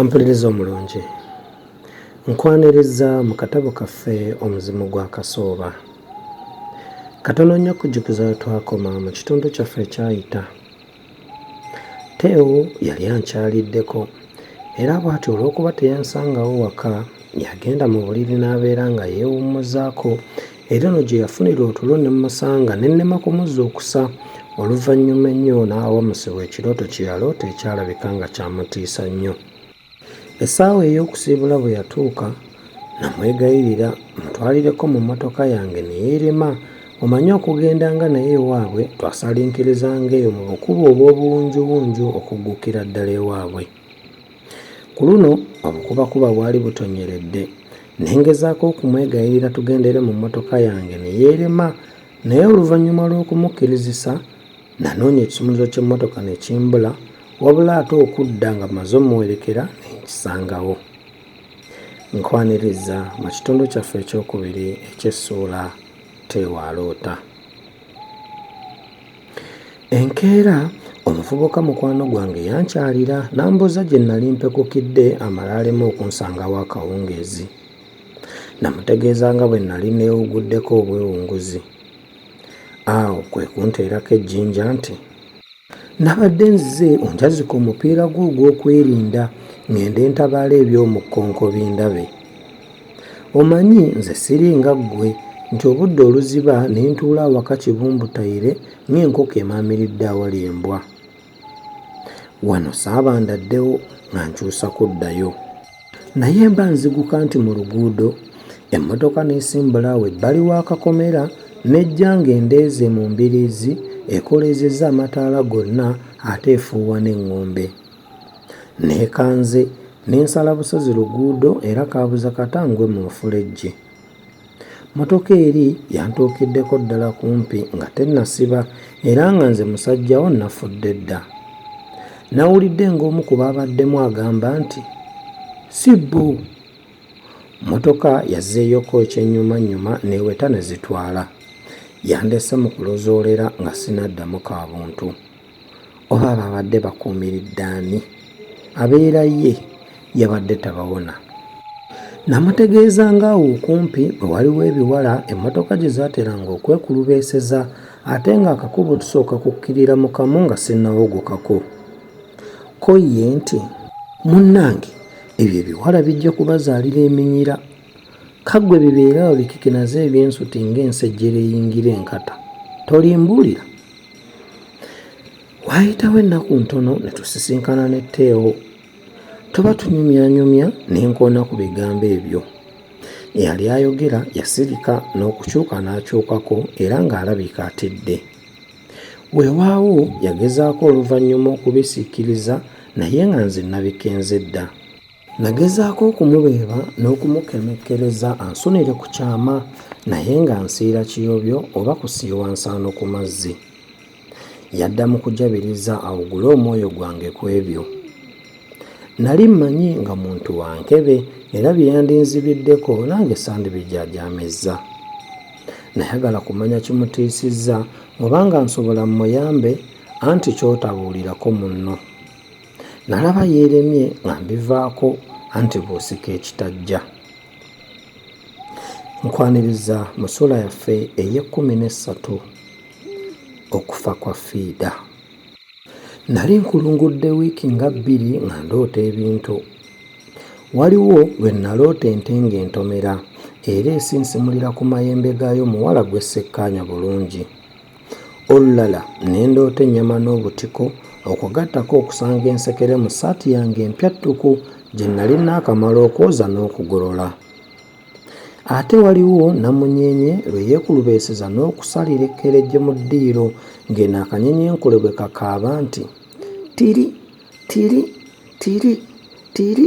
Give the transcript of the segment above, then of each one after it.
ampuliriza omulungi nkwaniriza mu katabo kaffe omuzimu gwa kasooba katono nnyo kujjukiza twakoma mu kitundu kyaffe ekyayita Teo yali ankyaliddeko era bw'atyo olw'okuba teyansangawo waka yagenda mu buliri n'abeera nga yeewummuzaako era eno gye yafunira otulo ne mmusanga ne nnema kumuzuukusa oluvannyuma ennyo n'awamusibwa ekirooto kye yaloota ekyalabika nga kyamutiisa nnyo. Essaawa ey'okusiibula bwe yatuuka namwegayirira mutwalireko mu mmotoka yange ne yeerema omanyi okugenda nga naye ewaabwe twasaliikirizanga eyo mu bukubo obw'obuwunjuwunju okuggukira ddala ewaabwe. Ku luno obukubakuba bwali butonyeredde ne ngezaako okumwegayirira tugendere mu mmotoka yange ne yeerema naye oluvannyuma lw'okumukkirizisa Nanoonya ekisumuluzo ky'emmotoka ne kimbula wabula ate okudda nga maze omuwerekera ne nkisangawo. Nkwaniriza mu kitundu kyaffe ekyokubiri eky'essuula Teewaaloota. Enkeera omuvubuka mukwano gwange yankyalira n'ambuuza gye nnali mpekukidde amala aleme okunsangawo akawungeezi. Namutegeeza nga bwe nnali neewuguddeko obwewunguzi. Awo kwe kunteerako ejjinja nti, Nabadde nzize onjazika omupiira gwo ogw'okwerinda ng'ende ntabaala eby'omu kkonko bindabe. Omanyi nze siringa ggwe nti obudde oluziba ne ntuula awaka kibumbutayire ng'enkoko emaamiridde awali embwa. wano saaba ndaddewo nga nkyusa kuddayo naye mba nziguka nti mu luguudo emmotoka n'esimbula awo ebbali w'akakomera n'ejja ng'endeeze mu mbiriizi ekoleezezza amataala gonna ate efuuwa n'eŋŋombe neekanze n'ensala busozi luguudo era kaabuza kata ngwe mu lufulejje Mmotoka eri yantuukiddeko ddala kumpi nga tennasiba era nga nze musajjawo nafudde dda. Nawulidde ng'omu ku baabaddemu agamba nti, Sibbo! Mmotoka yazzeeyoko ekyennyumannyuma n'eweta ne zitwala. Yandese mu kulozoolera nga sinaddamu ka buntu. oba ababadde bakuumiridde ani abeera ye yabadde tabawona. Namutegeeza ng'awo okumpi bwe waliwo ebiwala emmotoka gye zaateranga okwekulubeeseza ate ng'akakubo tusooka kukkirira mu kamu nga sinnawogokako. Ko ye nti. Munnange ebyo ebiwala bijja kubazaalira eminyira. Kaggwe bibeere awo bikikinaze ebyensuti ng'ensejjere eyingira enkata. Tolimbuulira? waayitawo ennaku ntono ne tusisinkana ne teewo tuba tunyumyanyumya ne nkoona ku bigambo ebyo eyali ayogera yasirika n'okukyuka n'akyukako era ng'alabika atidde weewaawo yagezaako oluvannyuma okubisiikiriza naye nga nze nabikenze dda Nagezaako okumubeeba n'okumukemekkereza ansunire ku kyama naye nga nsiira kiyobyo oba kusiiwa nsaano ku mazzi. Yadda mu kujabiriza awugule omwoyo gwange ku ebyo. Nali mmanyi nga muntu wa nkebe era bye yandinzibiddeko nange sandibijaajaamizza. Nayagala kumanya kimutiisizza oba nga nsobola mmuyambe anti ky'otabuulirako munno. Nalaba yeeremye nga mbivaako anti bw'osika ekitajja. Nkwaniriza mu ssuula yaffe ey'ekkumi n'essatu okufa kwa Fiida. Nali nkulungudde wiiki nga bbiri nga ndoota ebintu. Waliwo lwe naloota ente ng'entomera era esinsimulira ku mayembe gaayo muwala gwe ssekkaanya bulungi. Olulala ne ndoota ennyama n'obutiko okwo gattako okusanga ensekere mu ssaati yange empya ttuku gye nnali naakamala okwoza n'okugolola. Ate waliwo namunyenye lwe yeekulubeeseza n'okusalira ekkerejje mu ddiiro ng'eno akanyenye enkule bwe kakaaba nti tiri tiri tiri tiri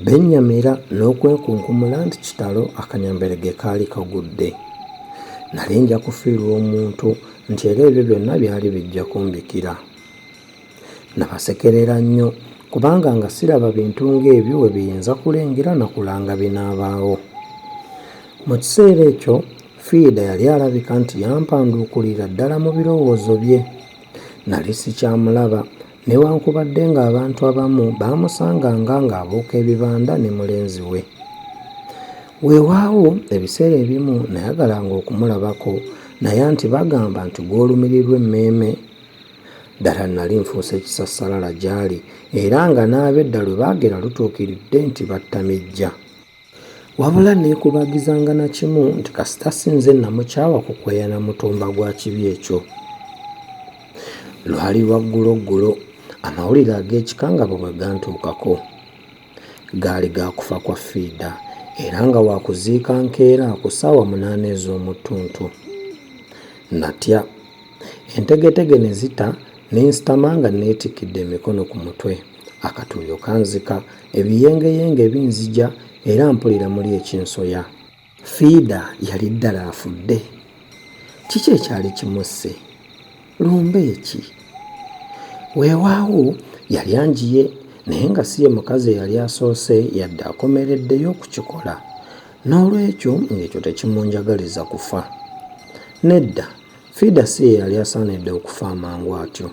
Bennyamira n'okwekunkumula nti kitalo akanyamberege kaali kagudde. Nali nja kufiirwa omuntu nti era ebyo byonna byali bijja kumbikira. Nabasekerera nnyo kubanga nga siraba bintu ng'ebyo we biyinza kulengera na kulanga binaabaawo. Mu kiseera ekyo Fiida yali alabika nti yampanduukulira ddala mu birowoozo bye. Nali sikyamulaba Newankubadde ng'abantu abamu baamusanganga ng'abuuka ebibanda ne mulenzi we. Weewaawo, ebiseera ebimu nayagalanga okumulabako naye anti bagamba nti gw'olumirirwa emmeeme. Ddala nnali nfuuse kisassalala gy'ali era nga n'abedda lwe baagera lutuukiridde nti battamijja. Wabula neekubagizanga na kimu nti kasita si nze namukyawa kukweya na mutumba gwa kibi ekyo. Lwali lwa gguloggulo amawulire ag'ekika nga bwe bwe gantuukako. Gaali ga kufa kwa Fiida era nga waakuziika nkeera ku ssaawa munaana ez'omu ttuntu. Natya. Entegetege ne zita ne nsitama nga neetikkidde emikono ku mutwe. Akatuuyo kanzika, ebiyengeyenge binzija era mpulira muli ekinsoya. Fiida yali ddala afudde? Kiki ekyali kimusse? Lumbe ki? Weewaawo yali anjiye naye nga si ye mukazi eyali asoose yadde akomereddeyo okukikola. N'olwekyo ng'ekyo tekimunjagaliza kufa. Nedda, Fiida si ye yali asaanidde okufa amangu atyo.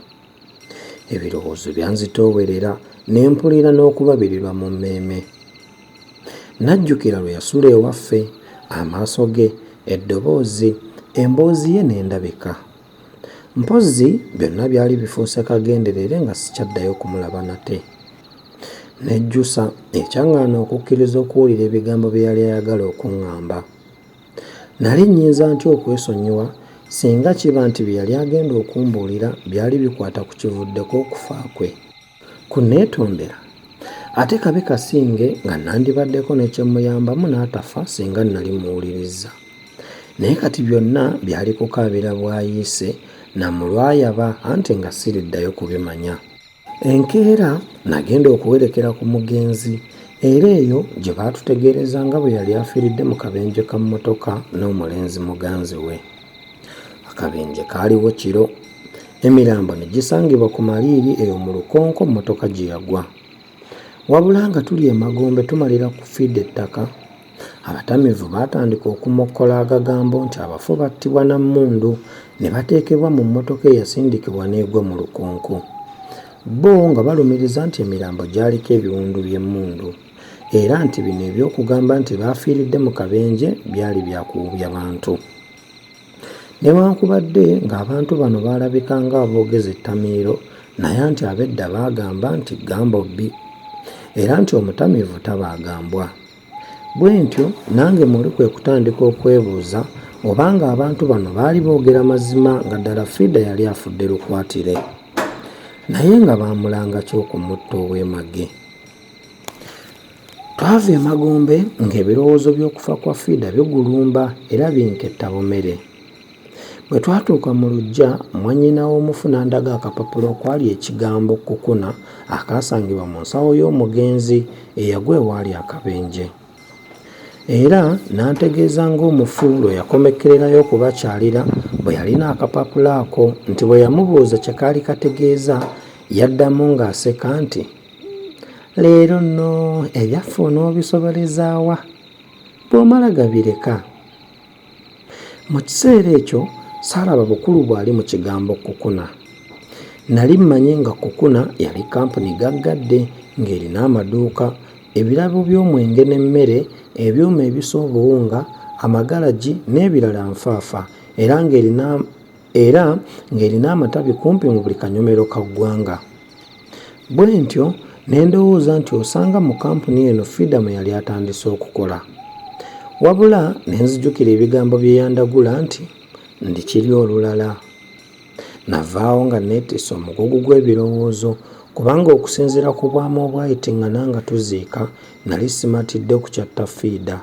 Ebirowoozo byanzitoowerera ne mpulira n'okubabirirwa mu mmeeme. Najjukira lwe yasula ewaffe, amaaso ge, eddoboozi, emboozi ye n'endabika. Mpozzi byonna byali bifuuse kagenderere nga sikyaddayo kumulaba nate. Nejjusa ekyaŋŋaana okukkiriza okuwulira ebigambo bye yali ayagala okuŋŋamba. Nnali nnyinza ntya okwesonyiwa singa kiba nti bye yali agenda okumbuulira byali bikwata ku kivuddeko okufa kwe? Ku nneetondera, ate kabe kasinge nga nnandibaddeko ne kye mmuyambamu n'atafa singa nnali mmuwulirizza. Naye kati byonna byali kukaabira bwayiise na mu lwayaba anti nga siriddayo kubimanya. Enkeera nagenda okuwerekera ku mugenzi era eyo gye baatutegeereza nga bwe yali afiiridde mu kabenje ka mmotoka n'omulenzi muganzi we. Akabenje kaaliwo kiro. Emirambo ne gisangibwa ku maliiri eyo mu lukonko mmotoka gye yagwa. Wabula nga tuli emagombe tumalira ku fiida ettaka Abatamiivu baatandika okumokkola agagambo nti abafu battibwa na mmundu ne bateekebwa mu mmotoka eyasindikibwa n'egwa mu lukonko. Bbo nga balumiriza nti emirambo gyaliko ebiwundu by'emmundu era nti bino eby'okugamba nti baafiiridde mu kabenje byali bya kuwubya bantu. Newankubadde ng'abantu bano baalabika ng'aboogeza ettamiiro naye anti ab'edda baagamba nti ggambo bbi era nti omutamiivu tabaaga mbwa. Bwentyo nange muli kwe kutandika okwebuuza oba ng'abantu bano baali boogera mazima nga ddala Frida yali afudde lukwatire naye nga baamulanga ki okumutta ow'emage. Twava emagombe ng'ebirowoozo by'okufa kwa Fiida bigulumba era binketta bumere. Bwe twatuuka mu luggya, mwannyina w'omufu n'andaga akapapula okwali ekigambo Kukuna akaasangibwa mu nsawo y'omugenzi eyagwa ewaali akabenje. Era n'antegeeza ng'omufu lwe yakomekkererayo okubakyalira bwe yalina akapapula ako nti bwe yamubuuza kye kaali kategeeza yaddamu ng'aseka nti, leero nno ebyaffe onoobisobolezaawa bw'omala gabireka mu kiseera ekyo saalaba bukulu bwali mu kigambo kukuna nali mmanyi nga kukuna yali kampuni gaggadde ng'erina amaduuka ebirabo by'omwenge n'emmere ebyuma ebisa obuwunga amagalagi n'ebirala nfaafa era ng'erina era ng'erina amatabi kumpi mu buli kanyomero ka ggwanga Bwentyo ne ndowooza nti osanga mu kampuni eno Fidamu yali atandise okukola. Wabula ne nzijukira ebigambo bye yandagula nti ndikirya olulala. Navaawo nga neetisse omugugu gw'ebirowoozo kubanga okusinziira ku bwama obwayitingana nga tuziika nali simatidde kukyatta Fiida.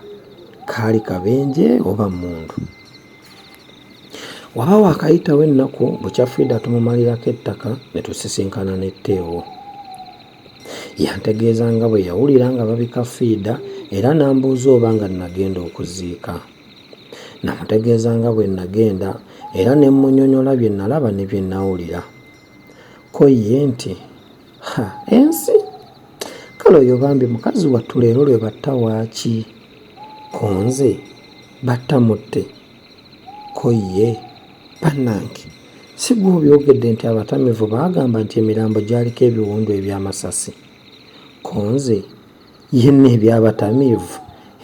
Kaali kabenje oba mmundu? waba waakayitawo ennaku bukya frida tumumalirako ettaka ne tusisinkana n'etteewo yantegeeza nga bwe yawulira nga babika fiida era n'ambuuza oba nga nagenda okuziika namutegeeza nga bwe nagenda era ne mmunyonyola bye nalaba ne bye nawulira ko ye nti ha ensi kale oyo bambi mukazi wattu leero lwe batta waaki konze batta mutte ko ye bannange si gwe obyogedde nti abatamivu baagamba nti emirambo gyaliko ebiwundu eby'amasasi konze yenna ebyabatamiivu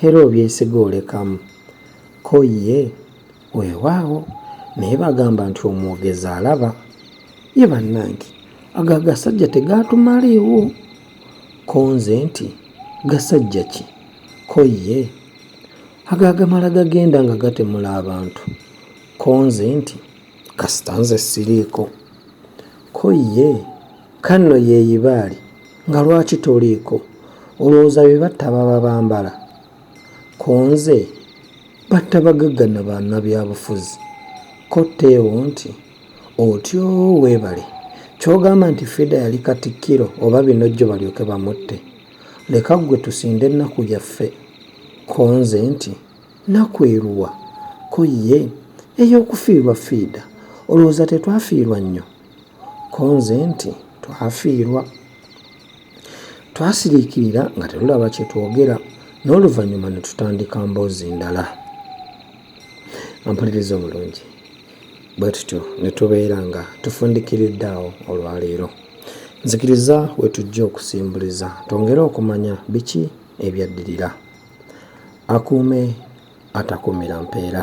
era obyesiga olekamu ko ye Weewaawo, naye bagamba nti omwogezi alaba. Ye bannange, ago agasajja tegaatumaleewo? Ko nze nti, Gasajja ki? Ko ye, Ago agamala gagenda nga gatemula abantu. Ko nze nti, Kasita nze siriiko. Ko ye, Kanno yeeyibaali nga lwaki toliiko? Olowooza be batta baba bambala? Kunze batta bagagga na banabyabufuzi ko Teo nti otyoo webale kyogamba nti Frida yali katikkiro oba binojjo balyoke bamutte leka ggwe tusinde ennaku yaffe konze nti naku eruwa ko ye eyokufiirwa Frida olowooza tetwafiirwa nnyo Ko nze nti, Twafiirwa. Twasiriikirira nga tetulaba kye twogera n'oluvannyuma ne tutandika mboozi ndala. Ampuliriza obulungi. Bwe tutyo ne tubeera nga tufundikiridde awo olwaleero. Nzikiriza we tujja okusimbuliza twongere okumanya biki ebyaddirira. Akuume atakuumira mpeera.